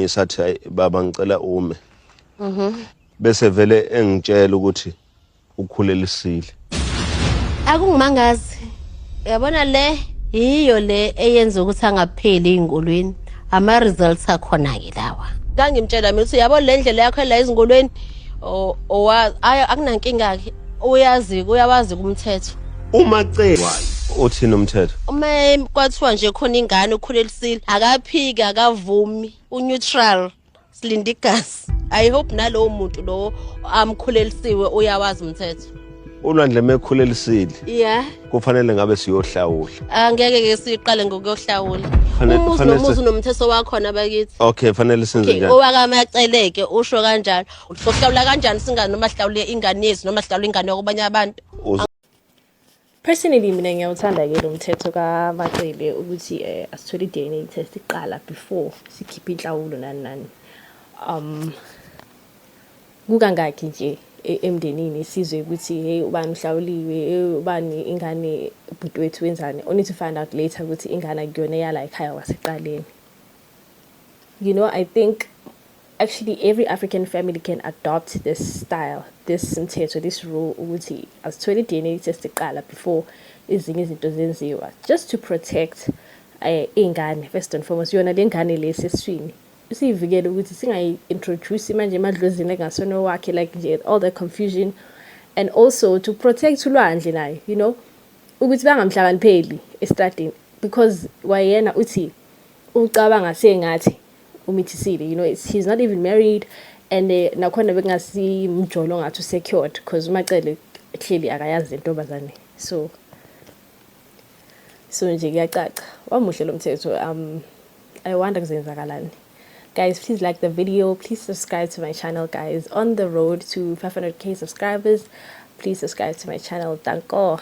ngisathi hayi baba ngicela ume mhm bese vele engitshela ukuthi ukhulelisile akungimangazi yabona le yiyo le eyenza ukuthi angapheli ezinkundleni ama results akhona ke lawa ngangimtshela mina ukuthi yabo le ndlela yakho la ezinkundleni akunankinga ke uyazi uyawazi kumthetho uma cekwa uthini umthetho uma kwathiwa nje khona ingane ukhulele Sile akaphiki akavumi uneutral silinde igazi i hope nalowo muntu lowo amkhulelisiwe uyawazi umthetho ulwandle mekhulelisile yeah kufanele ngabe siyohlawula angeke ke siqale ngokuyohlawula Fanele- umuzi fanele nomuzi si- unomthetho wakhona bakithi okay fanele senze Okay, njani owakamaceleke usho kanjalo sohlawula kanjani singane noma sihlawule ingane yethu noma sihlawule ingane yakobanye abantu Uzo- Personally mina ngiyawuthanda ke lo mthetho kaMacele ukuthi eh, asithole i-DNA test iqala before sikhiphe inhlawulo nani nani. Um kukangaki nje e, emndenini sizwe ukuthi hey ubani uhlawuliwe, hey ubani ingane ubhuti wethu wenzani. Only to find out later ukuthi ingane akuyona eyala ekhaya waseqaleni. You know, I think actually every African family can adopt this style, this mthetho, this rule ukuthi asithole i-DNA test iqala before ezinye izinto zenziwa just to protect eh ingane first and foremost yona lengane leseswini usiyivikele ukuthi singayi-introduce manje emadlozini engasona wakhe like nje all the confusion and also to protect ulwandle nayo you know ukuthi bangamhlakanipheli estradini because wayena uthi ucabanga sengathi umithisile you know it's, he's not even married and eh, nakhona bekungasimjolo ngathi usecured because umacele clearly akayazi intombazane so so nje kuyacaca wamuhle lo mthetho um i wonder kuzenzakalani guys please like the video please subscribe to my channel guys on the road to 500k subscribers please subscribe to my channel danko